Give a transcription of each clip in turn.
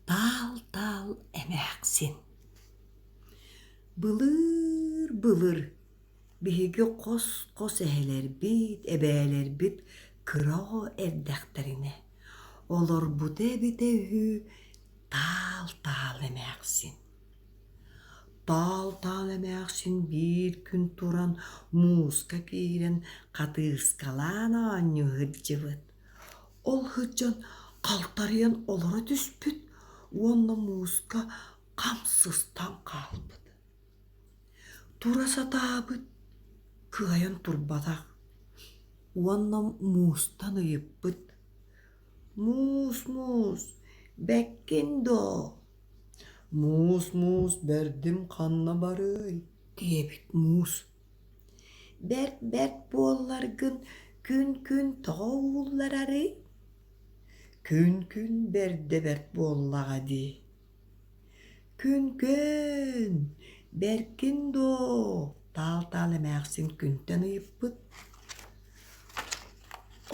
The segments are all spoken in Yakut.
Таал-таал эмээхсин Былыыр-былыр биһиги хос-хос эһэлэрбит, эбээлэрбит кыра эрдэхтэринэ олорбута эбитэ үһү таал-таал эмээхсин. Таал-таал эмээхсин биир күн туран мууска киирэн хатыыскалаан оонньуу сылдьыбыт. Ол сылдьан халтарыйан олоро түспүт уонна мууска хам сыстан хаалбыт. Тура сатаабыт, кыайан турбатах уонна муустан ыйыппыт: «Муус, муус, бэккин доо? Муус, муус, бэрдим ханна барыай?» диэбит муус. Бэрт бэрт буолларгын күн-күн тоҕо уулларарый? Күн-күн бэрдэ бэрт буоллаҕа дии. Күн-күн, бэркин доо, таал-таал эмээхсин күнтэн ыйыппыт.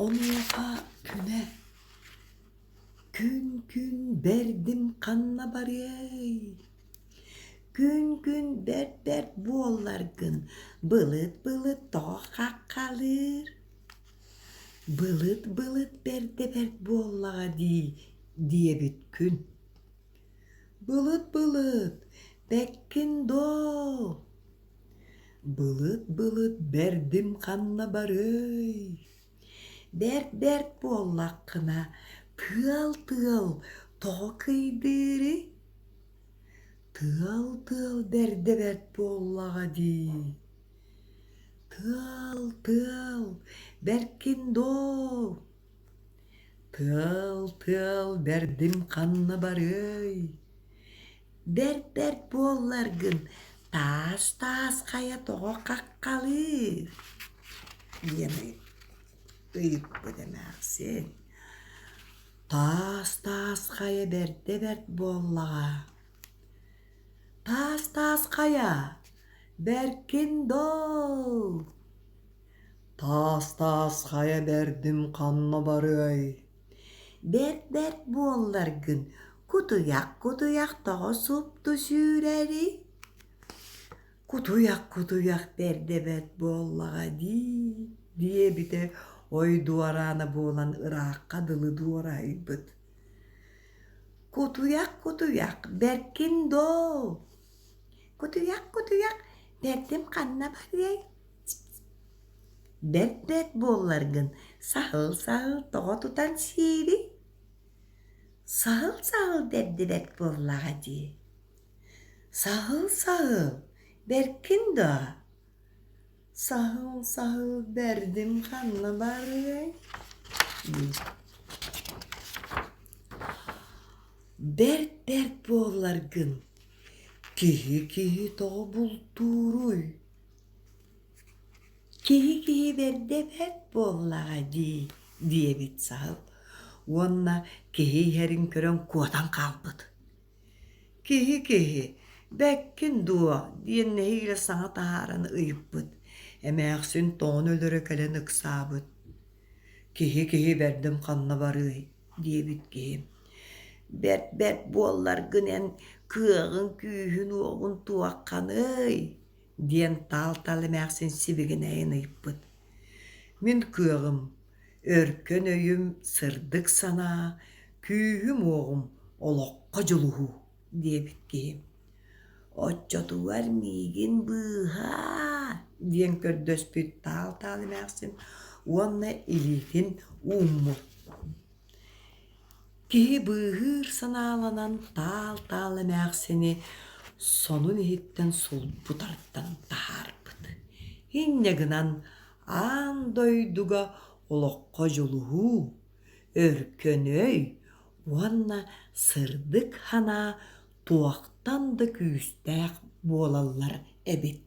Онуоха күнэ: Күн-күн бэрдим ханна барыай? Күн-күн бэрт-бэрт буолларгын былыт-былыт тооххаххалыыр былыт-былыт бэрдэ-бэрт буоллаҕа дии диэбит күн былыт-былыт бэккин доо былыт-былыт бэрдим ханна барыай Бэрт-бэрт буоллаххына, тыал-тыал тоҕо кыйдыырый? Тыал-тыал бэрдэ бэрт буоллаҕа дии. Тыал-тыал бэркин доо. Тыал-тыал бэрдин ханна барыай? бэрт бэрт буолларгын таас таас хайа тоҕо хаххалыыр диэн ыйыппыт эмээхсин таас таас хайа бэрдэ бэрт буоллаҕа таас таас хайа бэркин дол таас таас хайа бэрдим ханна барыай Бэрт бэрт буолларгын кутуйах кутуйах тоҕо супту сүүрэрий кутуйах кутуйах бэрдэ бэрт буоллаҕа дии диэбитэ ой дуораана буолан ыраахха дылы дуораһыйбыт кутуйах кутуйах бэркин доо кутуйах кутуйах бэрдим ханна барыай Бэт-бэт буолларгын саһыл-саһыл тоҕо тутан сиэри? Саһыл-саһыл бэрдибэт буоллаҕа дии. Саһыл-саһыл бэркин доо? Саһыл-саһыл бэрдим ханна барыай? Бэрт-бэрт буолларгын киһи-киһи тоҕо бултууруй? киһи киһи бэрдэ бэрт буоллаҕа дии диэбит саһыл уонна киһи иһэрин көрөн куотан хаалбыт киһи киһи бэккин дуо диэн нэһиилэ саҥа таһааран ыйыппыт эмээхсин тоҕон өлөрө кэлэн ыксаабыт киһи киһи бэрдим ханна барыай диэбит киһи бэрт бэрт буолларгын эн кыаҕыҥ күүһүн уоҕун туохханый диэн таал-тал эмээхсин сибигинэйэн ыйыппыт. Мин кыаҕым, өркөн өйүм, сырдык санаа, күүһүм-уоҕум олоххо дьулуһуу диэбит киһи. Оччотугар миигин быыһаа диэн көрдөспүт таал-таал эмээхсин уонна илиитин ууммут. Киһи быыһыыр санааланан таал-таал эмээхсини сонун иһиттэн сулбутартан таһаарбыт. Инньэ гынан аан дойдуга олоххо дьулуһуу, өркөнөй уонна сырдык санаа туохтан да күүстээх буолаллар эбит